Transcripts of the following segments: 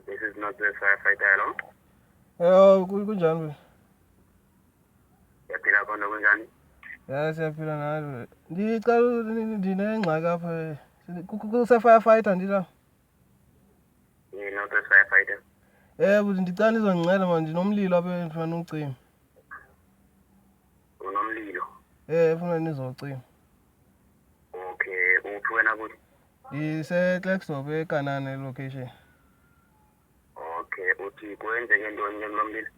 This is not the firefighter alone. Eh, ku- kunjani wena? Yaphila khona kunjani? Ya siyaphila nawe. Ndicela u- ni- ni- ndinengxaki apha. eh. Sini- ku- ku- Kuse-firefighter ndila. You're not the firefighter. Eh, bhuti ndicela nizondinceda mani ndinomlilo apha endifuna ucima. Unomlilo. Eh ufuna nizocima. Okay, uphi wena kuthi? Ngise Clexop eKanana location. Okay, uthi kwenzeke ntoni ke kulomlilo?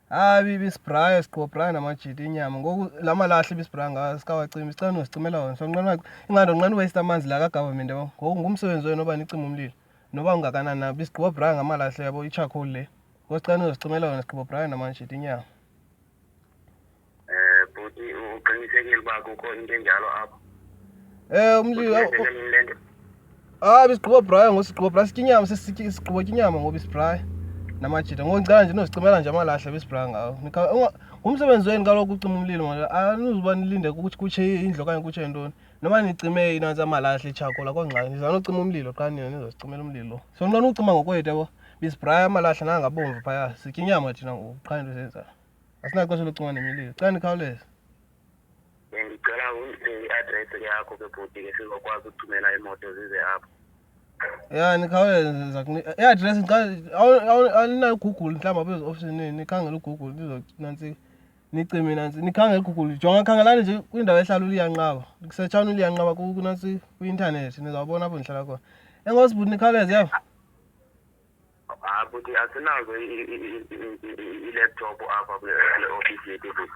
Hayi bibi sibraya siqobraya namajiti inyama. Ngoku la malahle bisibraya ngawo sikawacima isicela nosicimela wona. So nqena ingando nqena waste amanzi la ka government yabo. Ngoku ngumsebenzi wenu oba nicima umlilo. Noba ungakanani na bisiqobraya ngamalahle yabo i charcoal le. Ngosicela nosicimela wona siqobraya namajiti inyama. Eh bhuti uqinisekile uba kukho into enjalo apho. Eh umli Ah bisigqibo Brian ngosigqibo Brian sikinyama sesityi sigqibo kinyama ngoba isiBrian namajita ngoncane nje nozicimela nje amalahle besiBrian ngawo. Ngumsebenzi wenu kaloku ucima umlilo ngoba anizuba nilinde ukuthi kutshe indlu okanye kutshe ntoni. Noma nicime inanzi amalahle itshakola kongxaki nizama nocima umlilo qha nina nizozicimela umlilo. So nxa ucima ngokwethu yabo. Bisibraya amalahle nanga bomvu phaya. Sitya inyama thina ngoku qha into senza. Asinaxesha lokucinga nemililo. Cela nikhawuleze. Bendicela undiphe i-address yakho ke bhuti ke sizokwazi ukuthumela imoto zize apho. Ya nikhawuleze ndiza kuni- i-address ndiqale- awu- awu- aninayo uGoogle mhlawumbi apha eziofisini nikhangela uGoogle ndizothi nantsi Nici mina nzi nikhange kuGoogle jonga khangelani nje kwindawo ehlala uliyanqaba kusetshana uliyanqaba kunasi kwi-intanethi nizawubona apho ndihlala khona enkosi bhuti nikhawuleze yeva hayi bhuti asinazo i-laptop apha kule ofisi yethu bhuti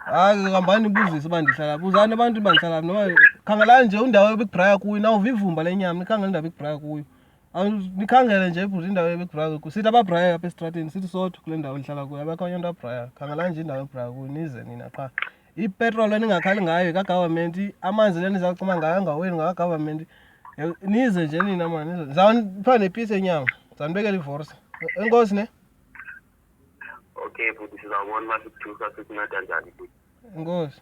hayi hambani nibuzise uba ndihlala buzani abantu uba ndihlala phi noba khangelani nje undawo ebikubraya kuyo nawuva ivumba lenyama nikhangela indawo ebikubraya kuyo nikhangelele nje ebhuti indawo ebebhraya kuyo sithi ababhraya apha esitrateni sithi sodwa kule ndawo ndihlala kuyo abekho onye nto abhraya khangelani nje indawo ebhraya kuyo nize nina qha ipetrol eningakhali ngayo kagavamenti amanzi le nizawucima ngayo angaweni ngakagavamenti nize nje nina mani zawupha nepisi enyama zanibekela ivorse enkosi ne okay bhuti sizawubona uba sikuthusa sikunceda njani bhuti enkosi